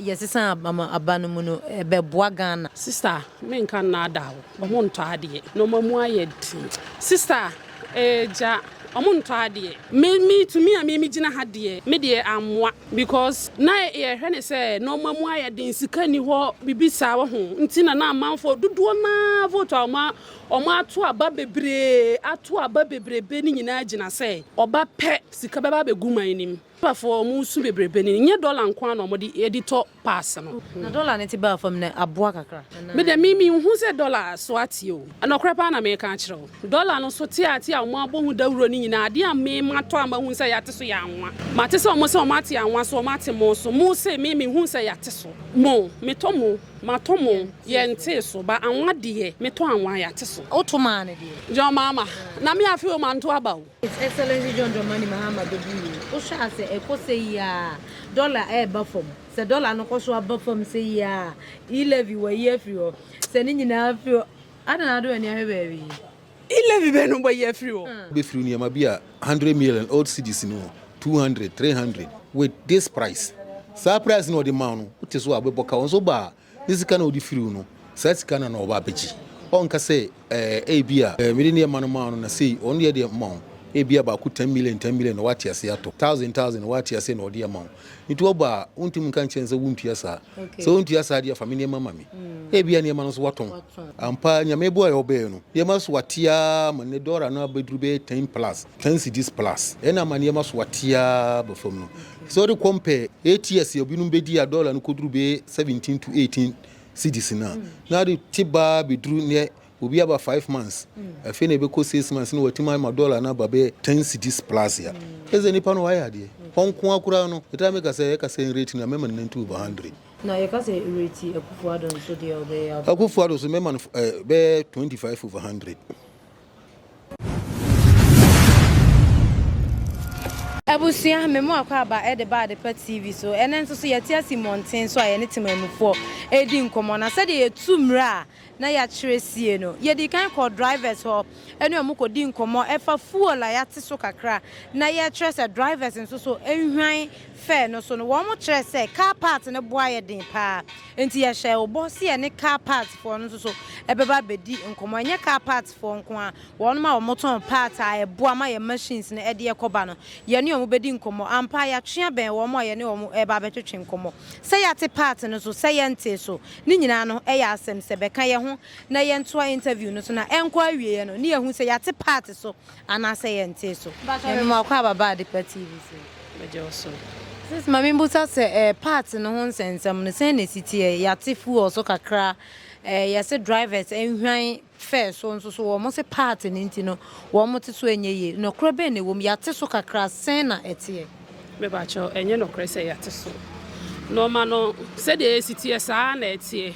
yɛsesa ama aba no mu no bɛboa Ghana. Sister menka nnaadaa wo, ɔmo ntɔ adeɛ, nnoɔma mu ayɛ den. Sister gya ɔmo ntɔ adeɛ. Me me tumi a me me gyina ha deɛ me deɛ ammoa because na yɛhwɛ no sɛ nnoɔma mu ayɛ den, sika nni hɔ, biribi saa wahu nti na na amanfoɔ dodoɔ no ara vote a ɔmo ɔmo ato aba bebree ato aba bebrebe no nyinaa gyina sɛ ɔba pɛ sika bɛba abɛgu man no mu. Papafoɔ a wɔresu bebrebe no, nyɛ dɔla nko ara na wɔde de tɔ paase no. Na dɔla no te baa fam no, aboa kakra anaa? Me deɛ, me, menhu sɛ dɔla so ateɛ o. Nɔkorɛ paa na mereka akyerɛ wo. Dɔla no so te ate a wɔabɔ ho dawuro no nyinaa, adeɛ a me matɔ a mahu sɛ yɛate so yɛ anwa. Mate sɛ wɔn se wɔn ate anwa so, wɔn ate mo so. Mo se, me, menhuu sɛ yɛate so. Mo, metɔ mo, matɔ mo, yɛntee so. Ba, anwa deɛ, metɔ anwa, yɛate so. Woto maa no deɛ? John, Mama, na me afei o, manto aba o. His Excellency John Dramani Mahama bɛdi yie. Wohwɛ a sɛ ɛkɔ sɛyi ara a, dɔla reba fam. Sɛ dɔla no kɔ so ba fam sɛyi ara a, e-levy wɔayi afiri hɔ. Sɛ ne nyinaa firi hɔ, adɛn na wode w'ani ahwɛ baabi? E-levy bɛn na wɔayi afiri hɔ? Wobɛfiri nneɛma bi a hundred million old cedis no, two hundred, three hundred, with this price, saa price no a wɔde ma wo no, wote so a wobɛbɔ ka. Wo nso ba a, Ne sika na ɔde firi wo no, saa sika no na ɔba abɛgye. Ɔnka sɛ, ɛɛ, ebia, ɛɛ, mede nneɛma no maa no na sei, ɔno deɛ deɛ mma wo. Ebia baako ten million, ten million na wate aseɛ atɔ. Thousand, thousand na wate aseɛ na ɔde ama wo. Nti ɔba a, wontumi nka nkyerɛ no sɛ wontua saa. Sɛ wontua saa deɛ, fa me nneɛma ma me. Ebia nneɛma no nso watɔn. Ampa ara, Nyame boaeɛ a ɔbɛɛ no, nneɛma so ate ara ma nnɛ dɔla no abɛduru bɛyɛ ten plus, ten cedis plus. Ɛna ama nneɛma so ate ara ba fam no. Sɛ wode kɔm pɛ ATS a binom bɛdi a dɔla no kɔduru bɛyɛ 17 to 18 cedis no a, na ade te baa bɛduru nnɛ obi aba five months, afei na ɛbɛkɔ six months na watumi ama dɔla no aba bɛyɛ ten cedis plus a, kyerɛ sɛ nnipa no wɔayɛ adeɛ. Hɔ nko ara koraa no, metaa meka sɛ yɛka sɛ rate no a, mɛma no ninety over hundred. Na yɛka sɛ rate Akufo-Addo nso deɛ a, ɔbɛyɛ abɛn? Akufo-Addo nso mɛma no bɛyɛ twenty five over hundred. Abusua, me mu akwaaba de ba Adepa TV so. Ɛnnɛ nso so yɛte ase mmɔnten so a yɛne temanmufoɔ redi nkɔmmɔ. Na sɛdeɛ yɛtu mmerɛ a na yɛakyerɛ sie no, yɛdii kan kɔɔ drivers hɔ ne wɔn kɔdii nkɔmmɔ ɛfa fuel a yɛate so kakra na yɛkyerɛ sɛ drivers nso so nhwan fɛɛ no so no. Wɔkyerɛɛ sɛ car part no boa yɛ den pa ara. Enti yɛhyɛɛ wo bɔ sɛ yɛne car parts foɔ no nso so bɛba abɛdi nkɔmmɔ. Ɛnyɛ car parts foɔ nko ara, wɔnom a wɔtɔn parts a ɛboa ma yɛn machines no de yɛ kɔba no, yɛne wɔn bɛdi nkɔmmɔ. Ampa ara yɛatwe abɛn wɔn a yɛne wɔn reba abɛtwetwe nkɔmmɔ. Sɛ yɛate part no so, sɛ yɛntee so, ne nyinaa no yɛ asɛm. Sɛ bɛka yɛn ho na yɛntoa interview no so na ɛnkɔ awieɛ no, ne yɛahu sɛ yɛate part so Anaasɛ yɛ ntee so. Mpatsɔ me ma ɔkɔ aba ba Adepa TV so. Megye wo so. Sis ma me mbusa sɛ eh parts no ho nsɛnsɛm no sɛn na esi teɛ? Yɛate fuel so kakra eh yɛse drivers nhwan fare so nso so wɔn se parts no nti no wɔn te so ɛnyɛ yie. Nɔkorɛ bɛn na ɛwom? Yɛate so kakra sɛn na ɛteɛ? Me patsɔ ɛnyɛ nɔkorɛ sɛ yɛate so. Nnoɔma no sɛdeɛ esi teɛ saa ara na ɛteɛ.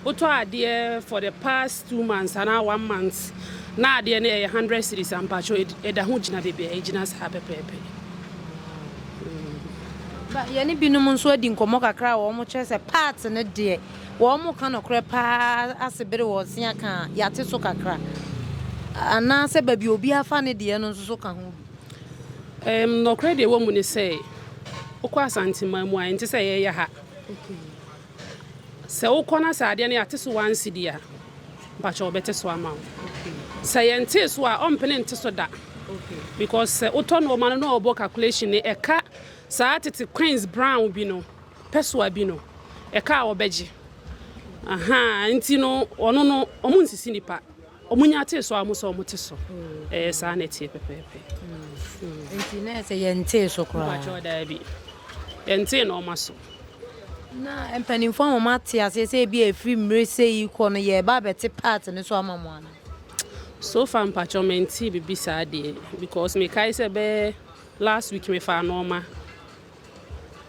Wotɔ adeɛ for the past two months anaa one month na adeɛ no ɛyɛ hundred cedis a mpakyɛw ɛda ho gyina baabi a ɛgyina saa pɛpɛɛpɛ. Ba yɛne binom nso adi nkɔmmɔ kakra a wɔkyerɛ sɛ part no deɛ wɔka nokorɛ paa ase bere wɔresea ka a yɛate so kakra anaasɛ baabi a obi afa ne deɛ no nso so ka ho bi. Um, nokorɛ deɛ ɛwɔ mu ne sɛ wokɔ Asanteman mu a ɛnte sɛ yɛyɛ ha. Sɛ wokɔ na sɛ adeɛ no yɛate so one cedi a, mpakyɛ wɔbɛte so ama wo. Sɛ yɛntee so a, ɔmpene nte so da. Because sɛ wotɔ nnoɔma no na ɔbɔ calculation no, ɛka saa tete coins brown bi no, pɛsoa bi no, ɛka a wɔbɛgye. Ahaa, nti no ɔno no, wɔn nsisi nipa. Wɔnya tee so ara wɔn sɛ wɔte so. Ɛɛ, saa na ɛteɛ pɛpɛɛpɛ. Enti na ɛyɛ sɛ yɛntee so koraa. Mpakyɛw, daabi. Yɛntee nneɛma so. Na mpanimfoɔ ama moate aseɛ sɛ ebia ɛfiri mmerɛ sei kɔ no yɛreba abɛte part no so ama mo anaa? So far mpakyɛw mentee biribi saa deɛ because mekae sɛ ɛbɛyɛ last week mefaa nneɛma.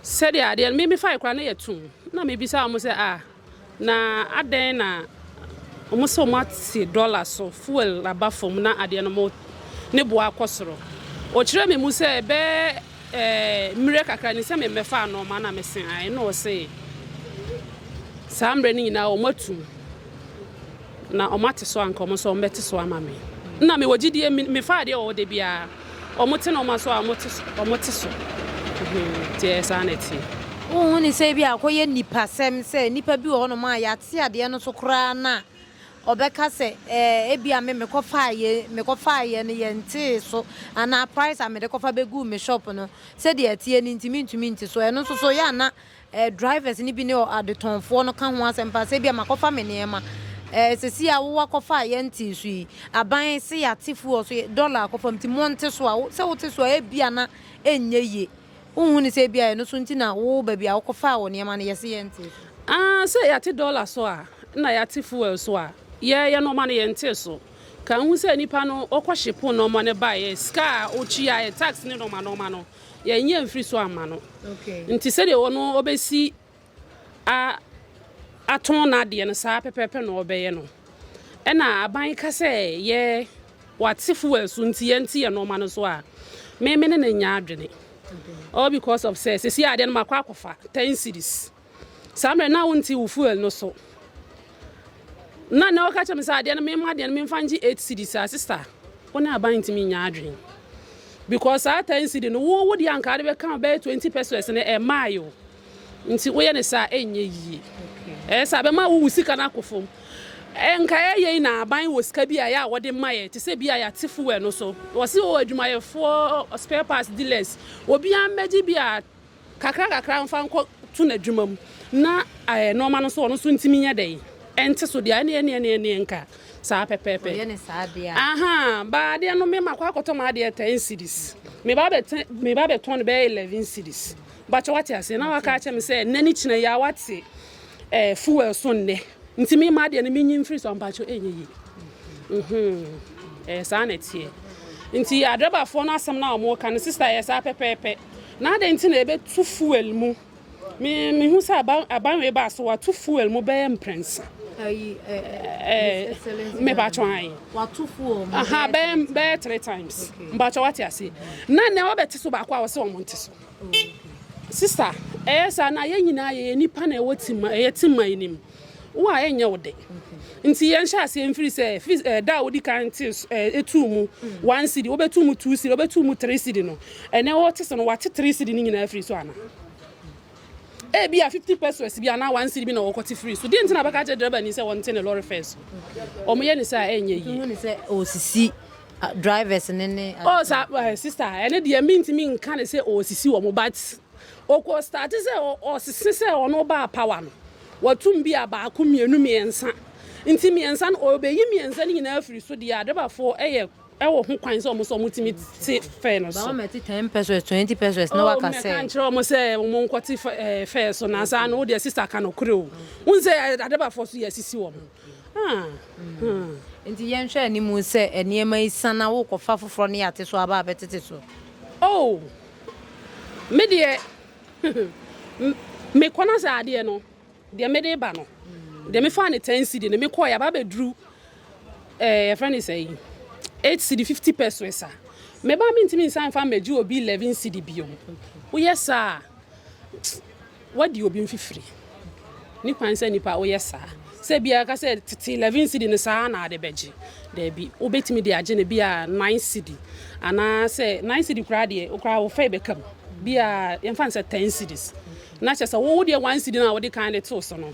Sɛdeɛ adeɛ no, me mefaeɛ koraa na yɛatum. Na mebisaa wɔn sɛ, ah. Na adɛn na ɔmo sɛ ɔmo ate dɔla so, fuel aba fam na adeɛ no mo ne boɔ akɔ soro. Ɔkyerɛ me mu sɛ ɛbɛɛ ɛɛ mmerɛ kakra ni sɛ me mmɛfaa nnoɔma na me se ae na ɔse saa mmerɛ no nyinaa ɔmo atum na ɔmo ate so anka ɔmo nso ɔmo bɛte so ama me. Nna me wɔ gyidie me faa adeɛ wɔ hɔ da biara. Wɔte nnoɔma so a wɔte so. Nti ɛyɛ saa na ɛteɛ. Wonhu no sɛ ebia akɔyɛ nnipasɛm sɛ nnipa bi wɔ hɔnom a yɛate adeɛ no so koraa no a, ɔbɛka sɛ ɛɛ ebia me mekɔfaeɛ mekɔfaeɛ no yɛntee so anaa price a mede kɔfa bɛguu me shop no sɛdeɛ ɛteɛ no nti mentumi nte so. Ɛno nso so yɛ a na Eh, drivers no bi ne ɔ, adetɔnfoɔ no ka ho asɛm paa, sɛ ebia makɔfa me nneɛma. Eh, sɛsi a wo akɔfa a yɛntee so yi, aban se yɛate fuel so, dollar akɔfa mu, nti monte so a, wo, sɛ wote so a ebia na ɛnyɛ yie. Wonhu ne sɛ ebia ɛno so nti na wo baabi a wokɔfaa wo nneɛma no yɛse yɛntee so? Ah, sɛ yɛate dollar so a, na yɛate fuel so a, yɛɛyɛ nnoɔma no yɛntee so. Ka nhu sɛ nnipa no, wɔkɔhye po nnoɔma no baeɛ, sika a wotuaeɛ, tax ne nnoɔma nnoɔma no, Yɛnyɛ mfiri so amma no. Nti sɛdeɛ ɔno ɔbɛsi a atɔn n'adeɛ no saa pɛpɛɛpɛ na ɔbɛyɛ no. Ɛna aban ka sɛ yɛ wate fuel so nti yɛnte yɛ nɔɔma no so a me me ne no nyɛ adwene all because of sɛ sɛsi adeɛ no makɔ akɔfa ten cities. Saa mmerɛ no na wonte wo fuel no so. Na na ɔka kyerɛ me sɛ adeɛ no mema adeɛ no memfa ngye eight cedis a sister wo ne aban ntumi nyɛ adwene because saa ten cedi no wo wo deɛ anka ade bɛka bɛyɛ twenty pesos no ɛmaa yo nti woyɛ ne saa ɛnyɛ yie ɛyɛ saa bɛma wo wo sika no akɔ fam nka ɛyɛ yi na aban wɔ sika bi a yɛ a wɔde ma yɛ te sɛ bi a yɛate fuel no so wɔsi wɔ adwumayɛfoɔ spare parts dealers obiara mmɛgye bi a Kakrankakra mfa nkɔ to n'adwuma mu na nnoɔma no nso ɔno nso ntumi nyɛ dɛn ɛnte so deɛ a ɛne ɛne ɛne ɛne nka saa pɛpɛɛpɛ Ɔyɛ ne saa adeɛ a. ahaa ba adeɛ no me ma kɔ akɔtɔ ma adeɛ ten cedis me ba bɛte me ba bɛtɔn no bɛyɛ eleven cedis bakyɛ wate aseɛ na waka akyɛ me sɛ nnɛ ne kyina yi a wate ɛɛ fuel so nnɛ. Nti me mma deɛ no menyi mfiri so ampakyɛ ɛnyɛ yie ɛyɛ saa na ɛteɛ nti adrɛbafoɔ no asɛm no a wɔka no sista yɛ saa pɛpɛɛpɛ na adɛn nti na ɛbɛtu fuel mu me mehu sɛ abanwe baa so wato fuel mu bɛyɛ mprɛnsa mepatwɔ ayi bɛyɛ three times mpatwɔ wate aseɛ na nɛ wɔbɛte so baako a wɔsɛ wɔn nte so Sister ɛyɛ saa na yɛn nyinaa yɛyɛ nipa na ɛwɔ ti ma ɛyɛ ti ma yi nim wo a ɛnyɛ wo de nti yɛn hyɛ aseɛ mfiri sɛ fi ɛɛ da a wodi kan te ɛɛ etu mu one cd wobɛtu mu two cd wobɛtu mu three cd no ɛnɛ wɔte sɛ no wate three cd no nyinaa firi so ana ebi a fifty pesos bi anaa one cd bi na wɔkɔte firi so deɛ nti na bɛka kyerɛ dɛrɛba ni sɛ wɔnte ne lɔre fɛn so wɔn yɛ ne sɛ a ɛnyɛ yie. Wɔn sɛ ɔsisi Drivers no ne ade. Oh sa eh, sister ɛno deɛ mentumi nka ne sɛ ɔresisi wɔn but ɔkɔ starte sɛ ɔsese sɛ ɔno baa power no watum bi a baako mmienu mmiɛnsa nti mmiɛnsa no ɔbɛyi mmiɛnsa no nyinaa afiri so deɛ adrebafoɔ ɛyɛ ɛwɔ ho kwan sɛ ɔmo sɛ ɔmo tumi te fɛ no so. Báwo mɛte ten pesos twenty pesos na waka sɛ. Ɔmɛka nkyerɛ ɔmo sɛ ɔmo nkɔte fɛ so na saa no deɛ sista ka no kore o. N sɛ adebafoɔ so yɛ asisi wɔn. Enti yɛnhwɛ anim sɛ nneɛma yi sa na worekɔfa afoforɔ no yɛ ate so aba abɛtete so. Oh me deɛ me kɔ na sɛ adeɛ no deɛ mede reba no deɛ mefaa no ten cedi no mekɔɛ aba abɛduru ɛɛ yɛfrɛ no sɛ yi eight cedi fifty pesos a meba a mentumi nsan mfa mmɛgye obi eleven cedi bio woyɛ saa a. Woadi obi mfifiri. Ne kwan sɛ nipa woyɛ saa. Sɛ ebia yɛka sɛ tete eleven cedi no saa ara na ade bɛgye. Dabi, wobɛtumi de agye no bi a nine cedi anaa sɛ nine cedi koraa deɛ wo koraa wo fɛ bɛka mu. Bi a yɛmfa no sɛ ten cedis. Na kyerɛ sɛ wo wo deɛ one cedi no a wode kan de too so no.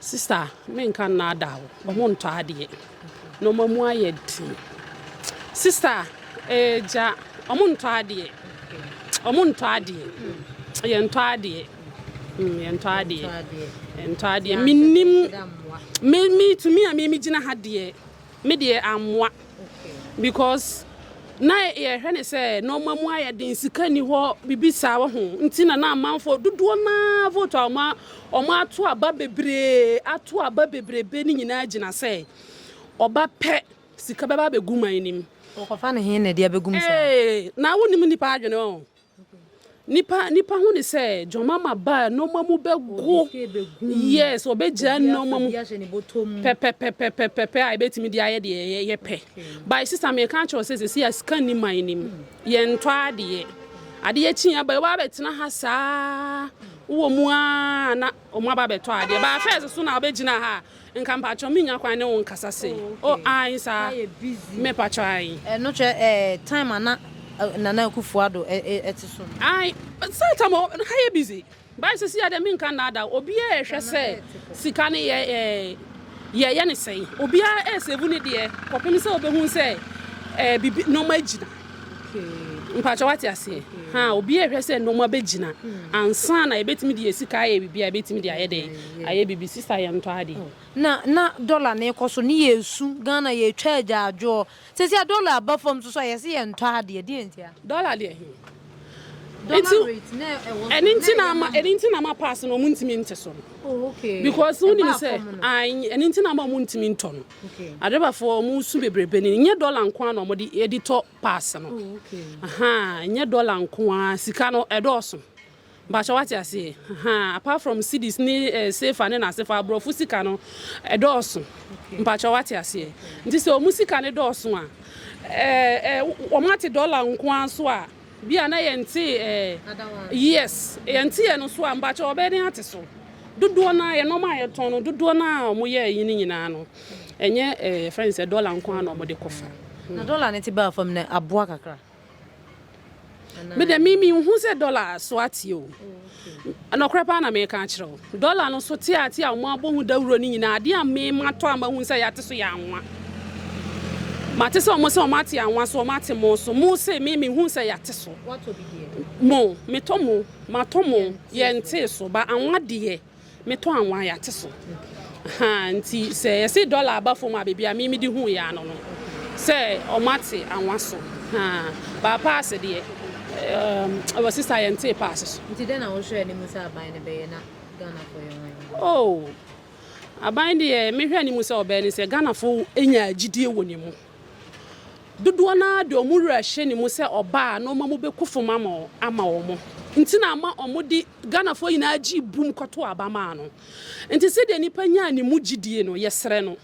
Sister me nka nnaadaa wo ɔmo ntɔ adeɛ nnoɔma mu ayɛ den sister ee gya ɔmo ntɔ adeɛ ɔmo ntɔ adeɛ yɛ ntɔ adeɛ mm yɛ ntɔ adeɛ yɛ ntɔ adeɛ menim me me tumi a me me gyina ha deɛ Me deɛ ammoa because na yɛhwɛ ne sɛ nɔɔma mu ayɛ den sika ni hɔ bibi saa wɔ ho nti na na amanfoɔ dodoɔ naa vote a ɔma ɔma ato aba bebree ato aba bebrebe ne nyinaa gyina sɛ ɔba pɛ sika bɛba abɛgu man nim. Wɔkɔfa no he na ɛde abɛgum saa? Ee na wonim nipa adwene ɔ Nipa nipa hu ne sɛ John Mama ba nneɛma mu bɛgo yes ɔbɛgyaa nneɛma mu pɛpɛpɛpɛpɛpɛ a ɛbɛtumi de ayɛ deɛ yɛpɛ by sista meka kyerɛ sɛ sɛsi a sika nni man no mu yɛntɔ adeɛ adeɛ kyi aba ɛwɔ abɛtena ha saa wowɔ mu a na Ɔmo aba bɛtɔ adeɛ. Baa first so na wobɛgyina ha a, nka mpakyɛw mennya kwan ne wo nkasa sei. Oh okay. Oh ae saa. Na yɛ busy. Me pakyɛw ae. Ɛno kyerɛ eh, time a na eh, Nana Akufo Addo eh, eh, ɛte so no. Ae, saa time a na ha yɛ busy. Baa sisi a deɛ menka nnaada wo, obiara ɛhwɛ sɛ sika no yɛ eh, yɛyɛ ne sɛn. Obiara ɛɛsave ne deɛ kɔpem sɛ wobɛhu sɛ eh, biribi, nnoɔma agyina. Mpakyɛw wate aseɛ? Haa obiara rehwɛ sɛ nnoɔma bɛgyina ansa na yɛbɛtumi de yɛn sika ayɛ biribi a yɛbɛtumi de ayɛ dɛn? Ayɛ biribi. Sista yɛntɔ adeɛ. Na na dɔla no rekɔ so ne yɛresu. Ghana yɛretwa agyaadwoɔ. Seesei a dɔla aba fam nso so a yɛse yɛntɔ adeɛ. Deɛn ntia? Dɔla deɛ he? Dɔla rate no a ɛwɔ so no na ɛyɛ ama he? Ɛno nti na ama pass no wɔntumi nte so no. Oh okay. Because wonim sɛ, ae, ɛno nti na ama wɔntumi ntɔ no. Adebafoɔ wɔn su bebrebe ni nyɛ dɔla nko ara na wɔn de de tɔ pass no ahaa nyɛ dɔla nko ara sika no ɛdɔɔso mpakyɛ wate aseɛ ahaa apart from cedis ne eh, sefa ne n'asefa aborɔfo sika no ɛdɔɔso mpakyɛ wate aseɛ nti sɛ wɔn sika no dɔɔso a ɛɛ eh, eh, wɔn ate dɔla nko ara so a. Bi a na yɛntee ɛɛ yes yɛnte yɛ no so a mpakyɛw ɔbɛyɛ dɛn ate so? Dodoɔ no ara yɛ nnoɔma a yɛtɔn no dodoɔ no ara a wɔn yɛɛ yi no nyinaa no ɛnyɛ ɛɛ yɛfrɛ no sɛ dɔla nko ara na wɔn de kɔ fa. Na dɔla no te baa fam no aboa kakra anaa? Me deɛ me menhu sɛ dɔla so ateɛ o. Nokorɛ paa na mereka akyerɛ wo, dɔla no so teatea a wɔabɔ ho dawuro no nyinaa, adeɛ a me matɔ a mahunu sɛ yɛate so yɛ anwa. Mate sɛ wɔn se wɔn ate anwa so, wɔn ate mo so. Mo se, me mehunu sɛ yɛate so. Mo, metɔ mo, matɔ mo, yɛntee so. Ba anwa deɛ. Me tɔ anwa yate so ahaa nti sɛ yɛse dɔla aba fam a baabi a me mede hu yɛ ano no sɛ ɔmo ate anwa so haa baa paase deɛ ɛwɔ eh, sista yɛn tee paase so. Nti dɛn na wohwɛ ne mu sɛ aban no bɛyɛ na Ghanafoɔ yɛ wɔn yɛ? Oh, aban deɛ mehwɛ ne mu sɛ ɔbɛyɛ ne sɛ Ghanafoɔ enya agyidie wɔ ne mu. Dodoɔ no ara de wɔn werɛ hyɛ ne mu sɛ ɔbaa na ɔma mu bɛku fam ama wɔn nti na ama wɔde Ghanafoɔ nyinaa gyee bum kɔtoo aba maa no. Nti sɛdeɛ nnipa nyaa ne mu gyidie no, yɛsrɛ no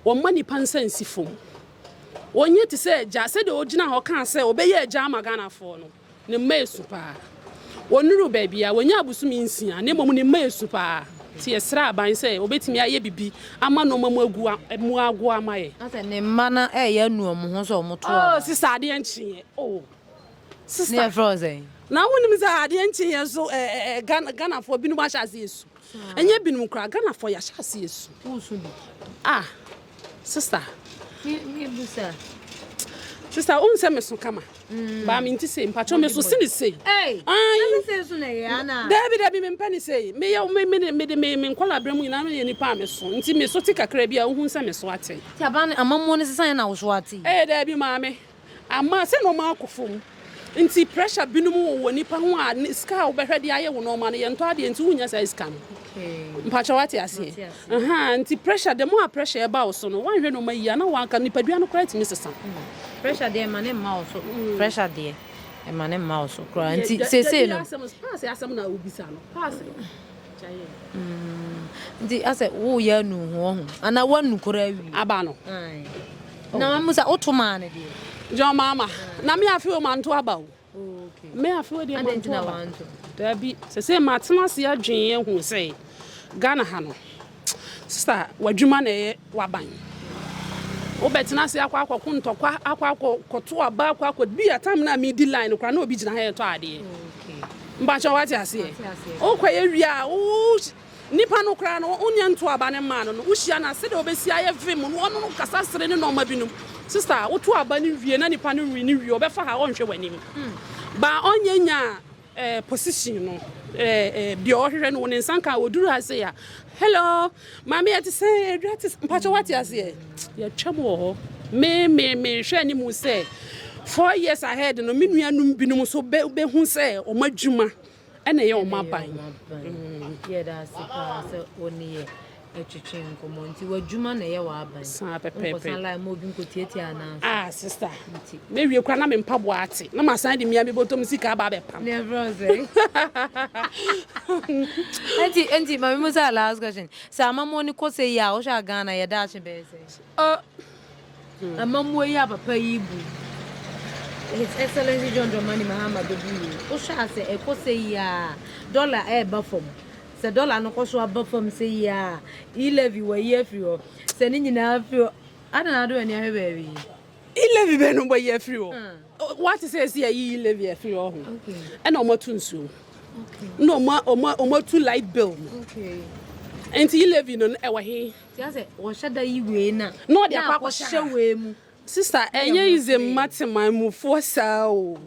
wɔmma nnipa nsa nsi fam. Ɔnyɛ te sɛ agya, sɛdeɛ ɔgyinaa hɔ kaa sɛ ɔbɛyɛ agya ama Ghanafoɔ no. Ne mma yɛ su paa. Wɔnnuruu baabi a wɔnyaa bosome nsia, na mmom ne mma yɛ su paa. Nti yɛsrɛɛ aban sɛ wɔbɛtumi ayɛ biribi ama nnoɔma mu agu mu agoɔ ama yɛn. Na sɛ ne mma no reyɛ anu wɔn ho sɛ wɔto anaa? Oh sister adeɛ nkyeeɛ oh sister. Ne yɛfrɛ wo sɛn? Na wonim sɛ adeɛ nkyeeɛ nso eh eh eh Ghana Ghanafoɔ binom ahyɛ aseɛ su. Ɛnyɛ binom koraa, Ghanafoɔ yɛahyɛ aseɛ su. Wosu bi? Ah, sista. Mebusa. Sista, wohu sɛ meso kama? Mm. Baa me nti sei, mpatwɔ meso se ne sei. Daabi daabi, mempɛ ne sei. Mede me nkɔla berɛ mu nyinaa meyɛ nipa a meso. Nti meso te kakra bi a wohu sɛ meso ate. Ti aban amammuo no sesan na woso ate? Ee, daabi maame. Ama sɛ nnoɔma akɔ fam nti pressure binom wɔ wɔ nipa ho a sika a wobɛhwɛ de ayɛ wo nnoɔma no yɛntɔ adeɛ nti wonya saa sika no mpakyɛ wate aseɛ aha nti pressure the more a pressure ɛba wo so no wanhwɛ nnoɔma yie a na wanka nipadua no koraa tumi sesa. Hmm. Pressure deɛ ɛma ne mma wo so hmm. pressure deɛ ɛma ne mma wo so koraa nti sese no. Paase asɛm na wobisa no paase. Nti asɛ wo yɛ anu ho ɔho ana wa nu kora awie. Aba no. Ae. Na mamu sɛ woto maa no deɛ. John mama na me afi o manto aba o. Okay. Me afi o deɛ manto aba. Dabi sese matena ase adwen ehu sɛ Ghana ha no. Sista, w'adwuma na ɛyɛ w'aban. Wobɛtena ase akɔ akɔko ntɔkwa, akɔ akɔto aba, akɔ akɔ bi a time no a medi line no koraa na obi gyina ha ɛtɔ adeɛ. Mpakyɛ wate aseɛ. Wokɔ yɛ wie a wo nipa no koraa no wonyɛ nto aba no mmaa no no wohyia no a sɛdeɛ wobɛsi ayɛ vim no wɔne no kasa sere ne nɔɔma binom. Sista, woto aba no wie na nipa no we ne wie ɔbɛfa ha ɔnhwɛ w'anim. Baa ɔnyɛ nyaa. position no deɛ ɔhwehwɛ no wɔ ne nsa nka ɔduru ase a hello maame yɛte sɛ adwa te mpakyɛ wate aseɛ yɛtwam wɔ hɔ me me mehwɛ anim sɛ four years ahead no me nuanom binom nso bɛhu sɛ ɔma adwuma ɛna ɛyɛ ɔma aban yɛda ase paa sɛ ɔneyɛ Ɛtwetwe nkɔmɔ nti w'adwuma na ɛyɛ w'aban. Saa pɛpɛɛpɛ. Nkɔsan line ma obi nkɔtiatia anan so. Ah sister. Nti. Mewie kora na me mpaboa ate. Na masan de mia me bɔtɔm sika aba abɛpam. Ne ɛbrɛ wo sɛ. Nti nti ma me mu saa last question. Sɛ amammuo no kɔ sɛ yi a wohwɛ a Ghana yɛ daakye bɛyɛ sɛ? Oh. Amammuo yi a papa yi bu His Excellency John Dramani Mahama bɛbu yi, wohwɛ a sɛ ɛkɔ sɛyi ara a, dɔla ɛreba fam. Sɛ dɔla no kɔ so aba fam sɛyi ara a, e-levy wɔayi afiri hɔ. Sɛ ne nyinaa firi hɔ, adɛn na wode w'ani ahwɛ baabi yi? E-levy bɛn na wɔayi afiri hɔ? Woate sɛ ɛsɛ yɛyi e-levy afiri hɔ ho, ɛna wɔatu nsuo mu, ɛna wɔatu light bill mu. Nti e-levy no ɛwɔ he? Na ɔde akɔ akɔhyɛ wei mu. Sister ɛnyɛ easy mma teman mu foɔ saa o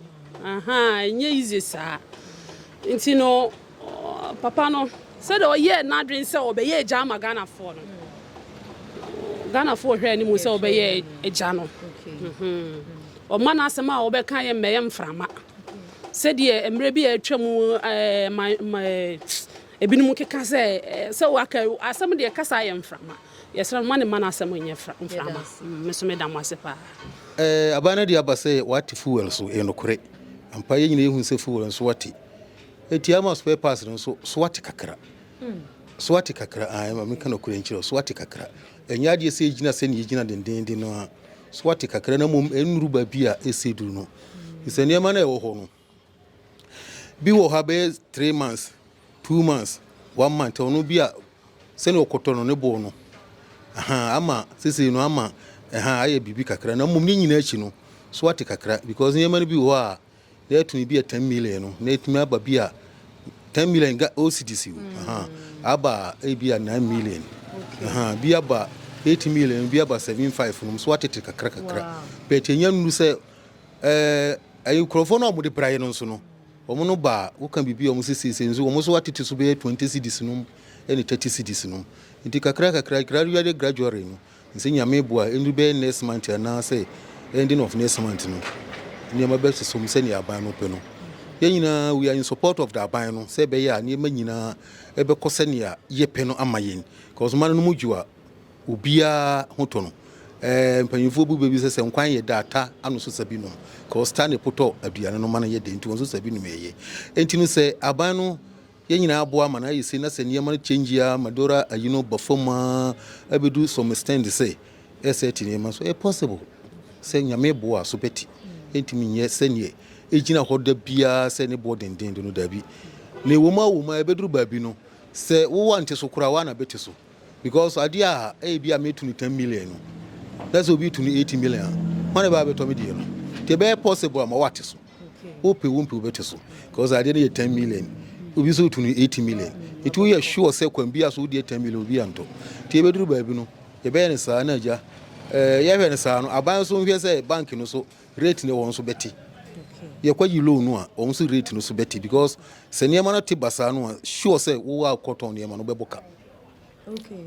ahaa ɛnyɛ easy saa nti no papa no sɛdeɛ ɔyɛɛ n'adwene sɛ ɔbɛyɛ agya ama Ghana foɔ no Ghana foɔ hwɛ ne mu sɛ ɔbɛyɛ agya no ɔma n'asɛm a ɔbɛka yɛ mmɛyɛ mframa sɛdeɛ mmerɛ bi a atwa mu ɛɛ ma ɛɛ. Ebinom keka sɛ, Sɛ woaka asɛm deɛ, kasa ayɛ mframa. Yɛsrɛ mo, mma ne mma no asɛm nyɛ mframa. Me nso meda mo ase paa. Aban no de aba sɛ wɔate fuel so, ɛyɛ nokorɛ ampa. Yɛn nyinaa yɛhunu sɛ fuel no so ate. Enti ama spare parts no nso so ate kakra. So ate kakra, ae, ma menka nokorɛ nkyerɛ wo, so ate kakra. Ɛnyɛ adeɛ sɛ ɛgyina sɛdeɛ ɛgyina dendeenden no ara. So ate kakra na mmom ɛnnuru baabi a ɛsɛ duru no. Ɛfiri sɛ nneɛma no a ɛwɔ hɔ no, Bi wɔ hɔ a bɛyɛ three months, two months, one month ɔno bi a sɛnea ɔkɔtɔ no ne bo no ahan ama sesei no ama ɛhan ayɛ biribi kakra na mmom ne nyinaa akyi no so ate kakra because nneɛma no bi wɔ hɔ a na yɛtumi bi a ten million no na yɛtumi aba bi a ten million ga OCDC o mm. ahan aba ebi a nine million ahan bi aba eight million bi aba seven five no so atete kakra kakra bɛtɛ nya nuru sɛ Ɛɛ nkurɔfoɔ no a wɔde praeɛ no nso no, wɔn no baa, woka biribi a wɔn sɛ seesei nso wɔn nso atete so bɛyɛ twenty cedis nom ne thirty cedis nom. Nti kakra kakra, gradually gradually no, nsɛ Nyame boa, ɛndu bɛyɛ next month anaasɛ ending of next month no, nneɛma bɛsosɔ mu sɛnea aban no pɛ no. Yɛn nyinaa we are in support of the aban no sɛ ɛbɛyɛ a nneɛma nyinaa ɛbɛkɔ sɛnea yɛpɛ no ama yɛn. Cause mma no no mu dwo a, Obiara ho tɔ no. Ɛɛ mpanyinfoɔ bu bɛbi sɛ sɛ nkwan yɛ da ata ano so sa bi nom cause ta ne potɔ aduane no ma no yɛ dɛ nti wɔn nso sa bi nom ɛyɛ. Nti no sɛ aban no yɛn nyinaa aboa ma no ayɛ sei na sɛ nneɛma no change a Madora ayi no ba fam a ɛbɛdu some extend sɛ ɛ set nneɛma nso ɛyɛ possible sɛ Nyame boɔ a so bɛte. Ɛntumi nyɛ sɛdeɛ ɛgyina hɔ da biara sɛ ne boɔ denden de no daabi. Na ɛwɔ mu a wɔ mu a ɛbɛduru baabi no sɛ wo ante so koraa woa na bɛte so. Because adeɛ a ɛyɛbi a mɛtu no ten million no, na sɛ obi tu no eighty million a, hwan na ɛbɛba abɛtɔ me deɛ no? Nti ɛbɛyɛ possible a ma wate so. Wopɛ wompɛ wobɛte so. Because adeɛ no yɛ ten million, obi nso tu no eighty million. Nti woyɛ sure sɛ kwan bi a so wodeɛ ten million obi antɔ. Nti ɛbɛduru baabi no, yɛbɛyɛ no saa na agya. Eh, yɛhwɛ no saa no, aban nso nhwɛ sɛ bank no so Rate no wɔn nso bɛte. Yɛkɔ yi loan no a wɔn nso rate no so bɛte because sɛ nneɛma no te basaa no a sure sɛ wo a wokɔtɔn nneɛma no bɛbɔ ka.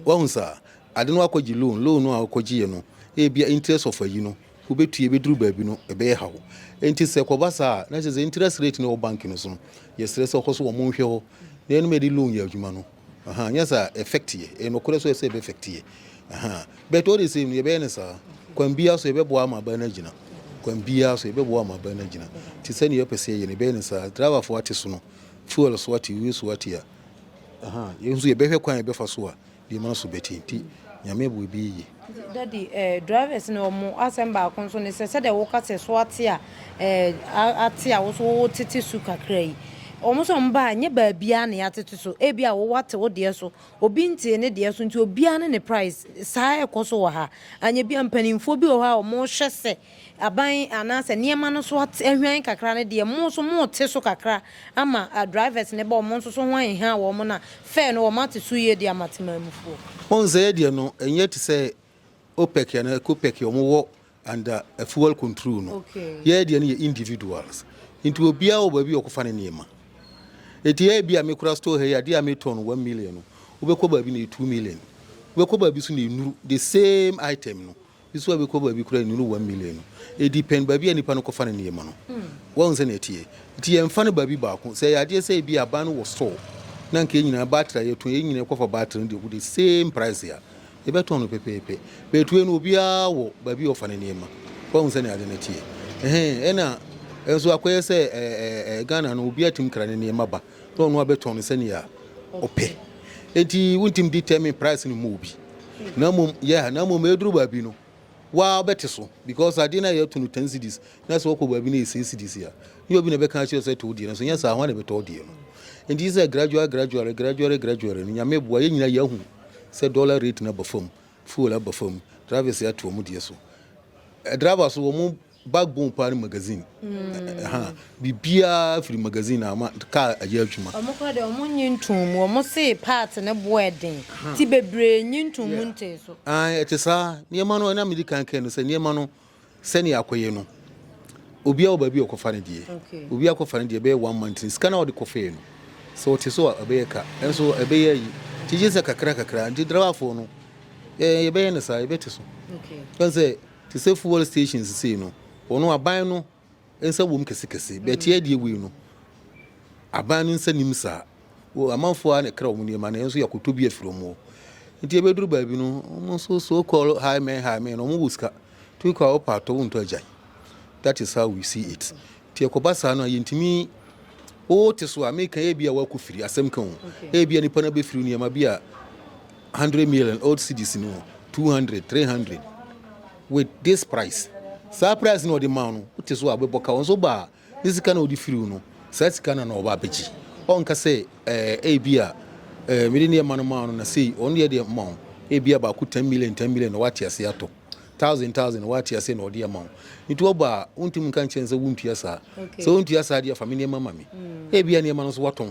Wahu saa ade no akɔ gye loan loan no a wokɔ gye yɛ no ebia interest of ayi no wobɛtua ebɛduru baabi no ɛbɛyɛ haw nti sɛ kɔba saa a na kyerɛ sɛ interest rate no wɔ bank no so no yɛsrɛ sɛ ɔkɔ so wɔn nhwɛ hɔ na ɛnum yɛde loan yɛ adwuma no. Ahaa nyɛ saa a effect yɛ, ɛyɛ nokorɛ so ɛsɛ ɛbɛ effect yɛ ahaa but all the same no yɛ bɛyɛ no saa kwan biara so yɛ bɛboa ama aban no agyina kwan biara so yɛ bɛboa ama aban no agyina nti sɛdeɛ yɛ pɛ sɛ yɛyɛ no yɛ bɛyɛ no saa driver foɔ ate so no fuel so ate wei so ate a ahaa yɛn nso yɛ bɛhwɛ kwan yɛ bɛfa so a nneɛma no so bɛte nti nyame boa ɛbɛyɛ yie. Daddy eh drivers no ɔmo asɛm baako nso ne sɛ sɛdeɛ wo ka sɛ so ate a eh ate a wo so wo tete su kakra yi ɔmo sɛ ɔmo ba a nyɛ baabiaa na yɛatete so ebi a wo wate wo deɛ so obi ntee ne deɛ so nti obiaa ne ne price saa ɛkɔ so wɔ ha anyɛ bia mpaninfoɔ bi wɔ hɔ a ɔmo hwɛ sɛ aban anaasɛ nneɛma no so ahwan kakra no deɛ mo nso mo te so kakra ama drivers no ba ɔmo nso so ho aheha wɔn na fare no wɔn ate so yie de ama temanmufoɔ. Wohu sɛ yɛ deɛ no ɛnyɛ te sɛ OPEC anaa ECOPEC a wɔn wɔ under fuel control no yɛ deɛ no yɛ individuals nti obiara wɔ baabi a ɔkɔfa ne nneɛma nti yɛ bi a me kura store ha yi adeɛ a me tɔ no one million no wobɛkɔ baabi na ɛyɛ two million wobɛkɔ baabi so na ɛnuru the same item no Nsuwa bi kɔ baabi koraa nnuru one million no. Edi pɛn baabi a nipa no kɔfa ne nneɛma no. Wahu sɛnea ɛteɛ? Nti yɛmfa no baabi baako. Sɛ ɛyɛ adeɛ sɛ ebia aban no wɔ store na anka yɛn nyinaa battery a yɛtɔn, yɛn nyinaa kɔfa battery no de gu the same price a, yɛbɛtɔn no pɛpɛɛpɛ. But wei no obiara wɔ baabi a ɔfa ne nneɛma. Wahu sɛnea ade no teɛ? Ɛhɛn, ɛna nso akɔyɛ sɛ ɛɛ ɛɛ Ghana no obiara tumi kra ne nneɛma ba. na ɔno abɛtɔn no sɛnea ɔpɛ. Enti wontumi determine price no mma obi. Na mmom, yeah, na mmom ɛduru baabi no, waa wobɛte so because adeɛ no a yɛto no ten cedis na sɛ wɔkɔ baabi no yɛ six cedis a, ne obi na ɛbɛka akyerɛ wo sɛ to wo deɛ no so, nyɛ saa ho a na ɛbɛtɔ wo deɛ no. Enti gye sɛ gradual gradual gradual gradual no Nyame boa yɛn nyinaa yɛahu sɛ dollar rate no aba fam, fuel aba fam, drivers ato wɔn deɛ so. Eh, driver so wɔn Backbone paa ne magazine ɛha biribiara firi magazine na ama kaa ayɛ adwuma. Wɔn kora deɛ wɔn nyi ntoɔ mu wɔn se part ne boɔ ɛden ti bebree nyi ntoɔ mu ntee so. Ae ɛte saa nneɛma no ɛna medi kan kae no sɛ nneɛma no sɛnea akɔyɛ no obiara wɔ baabi a ɔkɔfa ne deɛ obiara kɔfa ne deɛ ɛbɛyɛ one month ne sika no a wɔde kɔfɛɛ no sɛ ɔte so a ɛbɛyɛ ka ɛnso ɛbɛyɛ ayi nti gye sɛ kakra kakra nti driverfoɔ no yɛbɛyɛ no saa yɛbɛte so ɛne sɛ. Te sɛ fuel station sesei no, hɔ no aban no nsa wom kɛse kɛse, but ɛyɛ deɛ wei no aban no nsa nim saa, wo amanfoɔ ara na ɛkra wɔn nneɛma na yɛn nso yɛakɔtɔ bi afiri wɔn hɔ, nti ɛbɛduru baabi no wɔn nso so call high men high men na wɔn wɔ sika, tu kɔ a wopɛ atɔ wontɔ agyan, that is how we see it. Nti ɛkɔba saa no a yɛntumi wote so a meka yɛ bi a woakɔ firi asɛm ka ho ɛyɛ bi a nipa no bɛfiri nneɛma bi a 100 million old cities no 200 300 with this price saa price na ɔde ma no wote so a wobɛbɔ ka wɔn so baa ne sika na ɔde firi no saa sika na na ɔba abɛgye ɔnka sɛ ɛɛ ɛyɛ bi a ɛɛ mede nneɛma no ma no na sei ɔno deɛ deɛ ma wo ɛyɛ bi a baako 10 million 10 million na wate ase atɔ thousand thousand wate ase na ɔde ama wo nti wɔba a wontumi nka nkyɛn sɛ wontua saa sɛ wontua saa deɛ fa me nneɛma ma me hmm. ebia nneɛma no so watɔn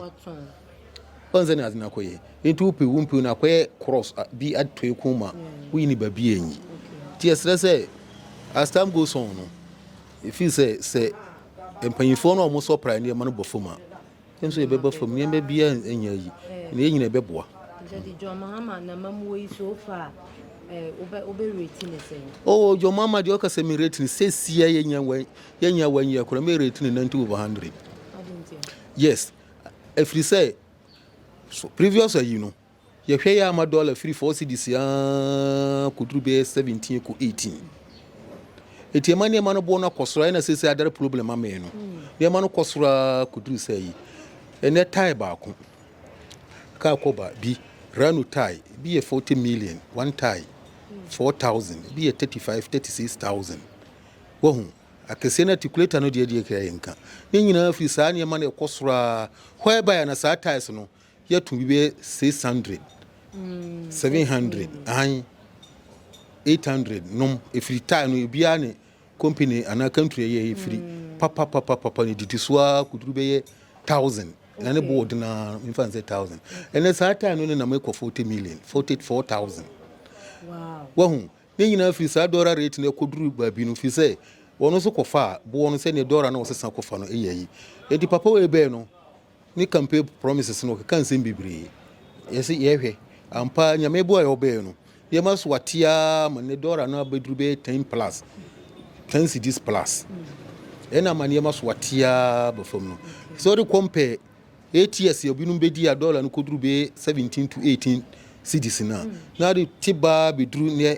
ɔn sɛ ne ade no akɔyɛ nti wopɛ wo mpew no akɔyɛ cross bi atoe ko ma hmm. woyi ne baabi anyi nti ɛserɛ sɛ as time goes on no ɛfiri sɛ sɛ mpanyimfoɔ no a wɔsɔ pra nneɛma no bɔ fam a Yɛn nso yɛbɛba fam. Nneɛma biara nyɛ ayi, na yɛn nyinaa ɛbɛboa. Daddy John Mahama na mamuo yi so far eh, wobɛ wobɛ rate ne sɛn? Oh, John Mahama deɛ ɔka sɛ me rate ne sɛsia yɛnya wɔ yɛnya wɔ nyɛ kora me rate ne 90 over 100. Yes, ɛfiri sɛ so previous ayi no Yɛhwɛ yɛ a ama dɔla firi four cedis aa kɔduru bɛyɛ seventeen kɔ eighteen. Eti ɛma nneɛma no boɔ no akɔ soro a ɛna sese adare problem ama yɛn no. Hmm. Nneɛma no kɔ soro aa kɔduru sɛ yi. Ɛnɛ tae baako kaa kɔba bi rano tae bi yɛ forty million one tae hmm. four thousand bi yɛ thirty five thirty six thousand. Wahu akɛseɛ no articulator no deɛ deɛ kra yɛn ka ne nyinaa firi saa nneɛma no ɛkɔ soro aa hɔ ɛbaeɛ na saa taes no Yɛto bi bɛyɛ six hundred, seven hundred, ahan, eight hundred nom. Efiri tae no ebiara ne company anaa country ɛyɛ efiri papa papa papa ne didi so ara kuduru bɛyɛ thousand. Na ne boɔ den ara nfa nsɛ thousand. Ɛnɛ saa tae no ne nam ekɔ forty million, forty four thousand. Wahu ne nyinaa firi saa dɔra rate no ɛkɔduru baabi no firi sɛ wɔn nso kɔfa boɔ no sɛdeɛ dɔra no wɔsesa kɔfa no ɛyɛ yi. Eti papa wei bɛɛ no. ne campaign promises no ɔkeka nsɛm bebree yɛsɛ yɛhwɛ ampa nyame boa yɛ ɔbɛɛ no yɛma so atia ma ne dɔra no abɛduru bɛyɛ 10 plus 10 cities plus ɛna ma nneɛma so atia bɛfam no sɛ ɔde kɔmpɛ ats obinom bɛdi a dɔla no kɔduru bɛyɛ 17 to 18 cities no a na ade te baa bɛduru neɛ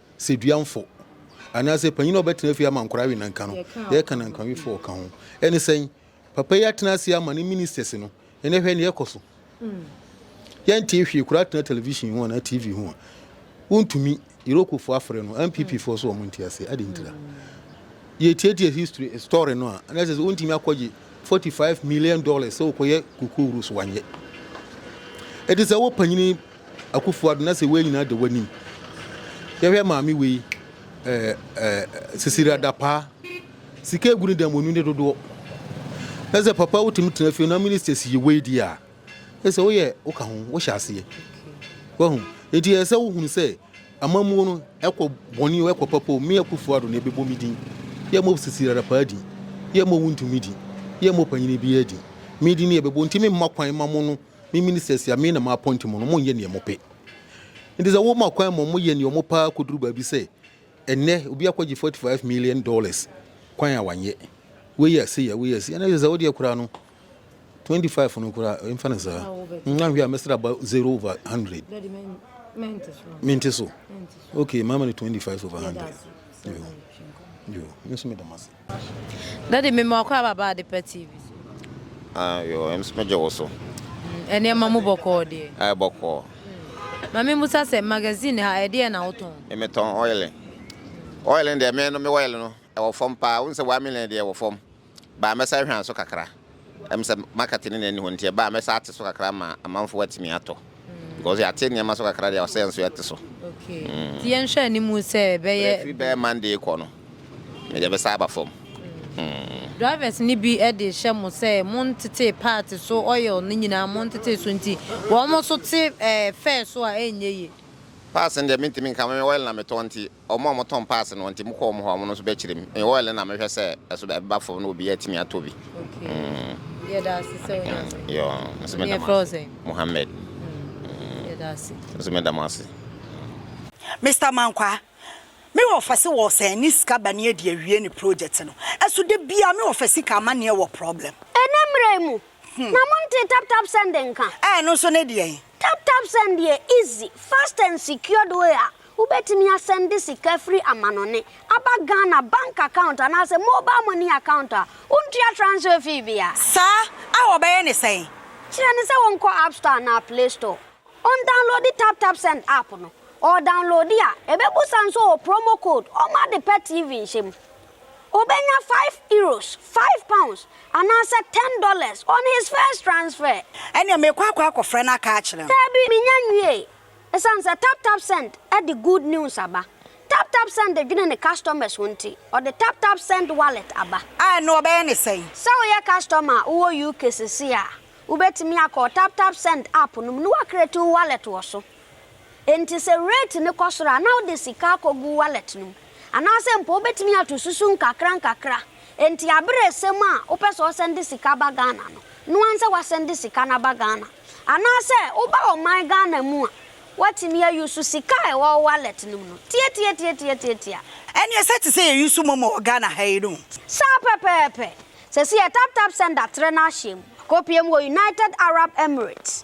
Seduamfo, anaasɛ panyin a ɔbɛtena fie ama nkwadaa awe nnanka no, yɛka nankwawefo a ɔka ho. Ɛne sɛn? Papa yi atena ase ama ne ministers no, ɛnɛ hwɛ nea ɛkɔ so. Yɛntee hwee koraa tena television ho anaa TV ho a, wontumi. Irokofo afrɛ no, NPP foɔ so wɔn nte ase, ade ntira. Yɛtiatia history story no a, ɛnɛ sɛ sɛ wontumi akɔgye 45 million dollars sɛ wokɔyɛ kokoo wuro so wanyɛ. Ɛte sɛ wopanyini Akuffo Addo na sɛ wei nyinaa da w'anim. Yɛhwɛ maame wei eh, eh, Sisiri Adapaa. Sika egu ne dan mu, ɔnim ne dodoɔ. Na sɛ papa wotumi tena fie na ministers yɛ wei di a, ɛsɛ woyɛ woka ho, wohyɛ aseɛ. Wahu? Enti ɛyɛ sɛ wohunu sɛ amammuo no ɛkɔ bɔne o, ɛkɔ papa o, me Akuffo Addo na ɛbɛbɔ me din. Yɛ mmɔ Sisiri Adapaa din. Yɛ mmɔ wo ntumi din. Yɛ mmɔ panyini biara din. Me din na ɛbɛbɔ, nti me mma kwan ma mo no. Me ministers a me na ma appoint wɔn no, wɔnyɛ nea wɔpɛ. Nti sɛ woma kwan ma wɔyɛ nea wɔpɛ ara kɔduru baabi sɛ ɛnnɛ obi akɔgye 45 million dollars kwan a wanyɛ, wei yɛ sei a, wei yɛ sei a, na kyerɛ sɛ wodeɛ koraa no 25 no koraa ɛmfa no saa. Nhwɛ a mɛsrɛ aba 0 over 100. Mente so. Okay, mama no 25 over 100. Yo, yo, me nso meda mo ase. Daddy me ma ɔkɔ ababa Adepa TV so. Ah yoo ɛm so me gye wo so. Mm, ɛnneɛma mu bɔkɔɔ deɛ. Ɛyɛ bɔkɔɔ. Mm. Ma me musa sɛ magazine ha ɛdeɛ na wotɔn? Me metɔn oil. Oil deɛ me no me oil no ɛwɔ fam paa. Wonsɛ one million deɛ ɛwɔ fam. Baa mɛsan hwɛ anso kakra. Ɛm sɛ market no na ɛnni hɔ nti ɛba a mɛsan ate so kakra ama amanfoɔ atumi atɔ because yɛate nneɛma so kakra deɛ ɔsɛ nso yɛte so. Okay. Mm. Ti yɛn hwɛ anim sɛ bɛyɛ. Ɛfiri bɛyɛ Monday kɔ no mede bɛsa aba fam. Mm. Drivers ni bi de hyɛ mo sɛ mo ntete part so oil no nyinaa mo ntete so nti wɔn nso te ɛɛ fare so a ɛnyɛ yie. Pass no deɛ mentumi nka me oil na metɔ nti wɔn a wɔtɔn paase no, nti mokɔ wɔn hɔ a, wɔn nso bɛkyerɛ mu. Ɛyɛ oil na mehwɛ sɛ ɛso ɛbɛba fam na obiara atumi atɔ bi. Okay. Mm. Yɛda ase sɛ wonya so. Yo, nso meda mo ase. Mohammed. Mm. Yɛda ase. Nso meda mo ase. Mister Mankwa, me wɔ fɛse wɔ sɛ ne sika ba ne adi awie ne project no. Ɛso da bia me wɔ fɛ sika ama neɛ wɔ problem. Ɛnɛ mmerɛ mu, Na montee tap tap send nka? Ɛɛ ɛno nso ne deɛn? Tap tap send yɛ easy, fast and secured way a wobɛtumi asɛnde sika firi amanɔne aba Ghana bank account anaasɛ mobile money account a wontua transfer fee biara. Saa a wɔbɛyɛ ne sɛn? Kyerɛ no sɛ wɔnkɔ app store anaa play store, ɔndownloadi tap tap send app no, ɔɔdownloadi a ɛbɛbusa nso ɔɔ promo code ɔma ade pa TV nhyɛ mu. Obenya five euros, five pounds, anaasɛ ten dollars on his first transfer. Ɛnneɛ meekɔ akɔ akɔfrɛ no aka akyerɛ no. Daabi, mennya nwiei. Esiane sɛ TapTapSend de good news aba, TapTapSend dwene ne customers ho nti, ɔde TapTapSend Wallet aba. A, ɛnneɛ wɔbɛyɛ no sɛn? Sɛ woyɛ customer a wowɔ UK seesei a, wobɛtumi akɔ TapTapSend app no mu na woacreate wo wallet wɔ so. Enti sɛ rate no kɔ soro a, na wode sika akɔgu wallet no mu. Anaasɛ mpo wobɛtumi ato susu nkakrankakra. Enti aberɛ resɛm a wopɛ sɛ ɔsɛnde sika ba Ghana no, noa nsɛ wasɛnde sika no aba Ghana. Anaasɛ woba ɔman Ghana mu a, woatumi a use sika a ɛwɔ wo wallet no mu no. Tiatiatiatiatiatia. Ɛneɛ sɛ te sɛ yɛ use momo wɔ Ghana ha yi no. Saa pɛpɛɛpɛ. Sɛsi yɛ taptapsend atrɛ no ahyɛm. Akɔpie mu wɔ United Arab Emirates.